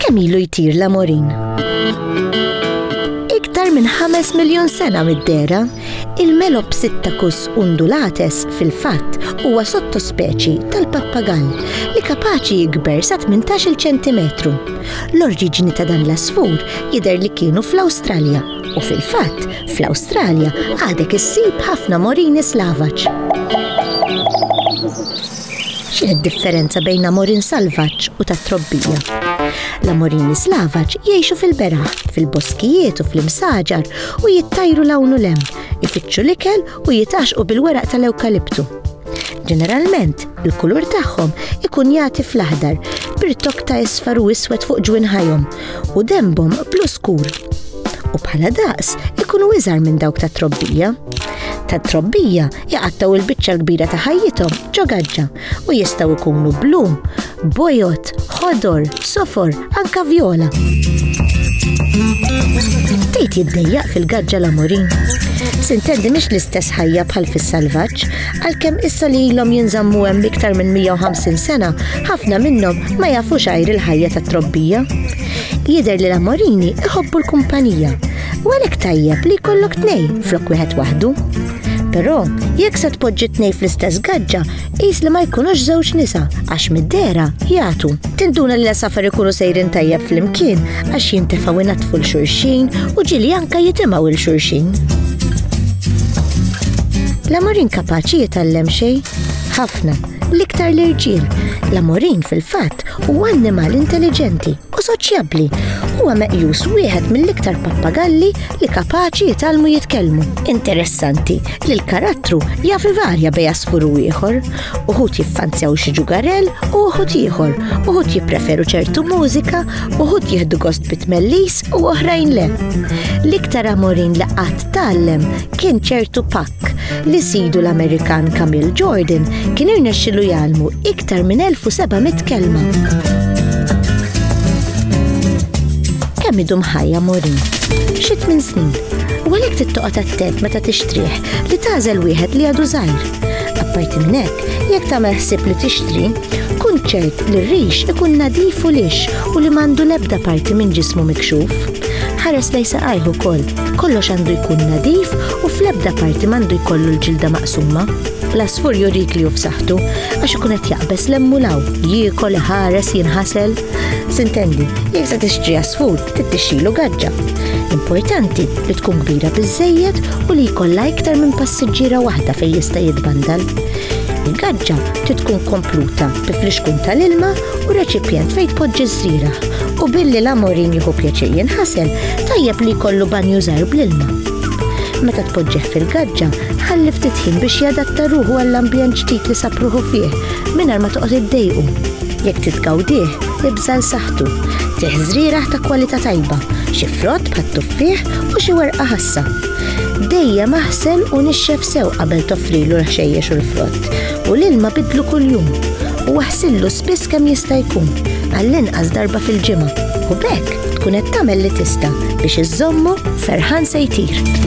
Kemm ilu jtir l-amorin? Iktar minn 5 miljon sena mid-dera, il-Melopsittacus undulates fil-fatt huwa sottospeċi tal-pappagall li kapaċi jikber sa 18 cm. L-oriġini ta' dan l-asfur jidher li kienu fl-Awstralja u fil-fatt Fl-Awstralja għadek issib ħafna morini slavaġ. X'inhi d-differenza bejn amorin salvaġġ u ta' trobbija? L-amorini slavaġ jgħixu fil-beraħ, fil-boskijiet u fl-imsaġar u jittajru lawnu lem, ifittxu l-ikel u jitaxqu bil-weraq tal-ewkaliptu. Ġeneralment, il-kulur tagħhom ikun jagħti fl-aħdar, birtok ta' isfar u iswed fuq ġwin ħajhom, u dembhom blu skur u bħala daqs ikunu iżgħar minn dawk ta' trobbija. Ta' trobbija jaqattaw il-biċċa l-kbira ta' ħajjithom ġo gaġġa u jistgħu jkunu blu, bojot, ħodor, sofor, anka vjola. Tejt jiddejjaq fil-gaġġa l-amorin. Sintendi mhix l-istess ħajja bħal fis-salvaġġ, Għalkemm issa li ilhom jinżammu hemm iktar minn 150 sena, ħafna minnhom ma jafux għajr il-ħajja tat-trobbija. Jidher li l-Amorini iħobbu l-kumpanija, u għalhekk tajjeb li jkollok tnejn flok wieħed waħdu. Però, jekk se tpoġġi tnej fl-istess gaġġa, qis li ma jkunux żewġ nisa għax mid-dera jagħtu. Tinduna li l-safer ikunu sejrin tajjeb flimkien għax jintefgħu inattfu l xurxin u ġili anka jitimgħu il xurxin. L-amor inkapaċi jitgħallem xejn? Ħafna, l-iktar l-irġiel. L-amorin fil-fatt huwa annimal intelligenti u soċjabbli. Huwa meqjus wieħed mill-iktar pappagalli li kapaċi jitalmu jitkellmu. Interessanti li l-karattru jaf varja bej askur u ieħor. Uħud jiffanzjaw xi ġugarell u uħud ieħor, uħud jippreferu ċertu mużika, uħud jieħdu gost bit-tmellis u oħrajn le. L-iktar amorin li qatt tallem kien ċertu pakk li sidu l-Amerikan Camille Jordan kien irnexxilu jgħalmu iktar minn 1700 kelma. Kemm idum ħajja morin? Xi tmien snin. U għalhekk tittoqgħod attent meta tixtrih li tażel wieħed li għadu żgħir. Apparti minn hekk, jekk tagħmel ħsieb li tixtri, kun ċert li r-rix ikun nadif u lix u li m'għandu l-ebda parti minn ġismu mikxuf. Ħares lej saqajh ukoll, kollox għandu jkun nadif u fl-ebda parti m'għandu jkollu l-ġilda maqsuma. L-asfur jurik li hu f'saħħtu għax ikun qed jaqbeż l-emmulaw, jiekol, ħares, jinħasel. Sintendi, jekk se tixtri asfur, tittixilu gaġġa. Importanti li tkun kbira biżejjed u li jkollha iktar minn passiġġiera waħda fejn jista' jitbandal. Il-gaġġa trid tkun kompluta bi flixkun tal-ilma u reċipjent fejn tpoġġi żrira u billi l-amorin jieħu pjaċir jinħasel tajjeb li jkollu banju żgħir bl-ilma. Meta tpoġġih fil-gaġġa, ħalli ftit ħin biex jadatta ruħu għall-ambjent ġdid li sapruħu fih mingħajr ma toqgħod iddejqu. Jekk titgawdih, ibżal saħtu. Tieħ żrierah ta' kwalità tajba, xi frott bħat-tuffieħ u xi werqa ħassa. Dejjem aħsel u nixxef sew qabel toffrilu l-ħxejjex u l-frott, u l-ilma bidlu kuljum, u aħsillu spiss kemm jista' jkun, għall-inqas darba fil-ġimgħa, u bekk tkun qed tagħmel li tista' biex iżommu ferħan se jtir.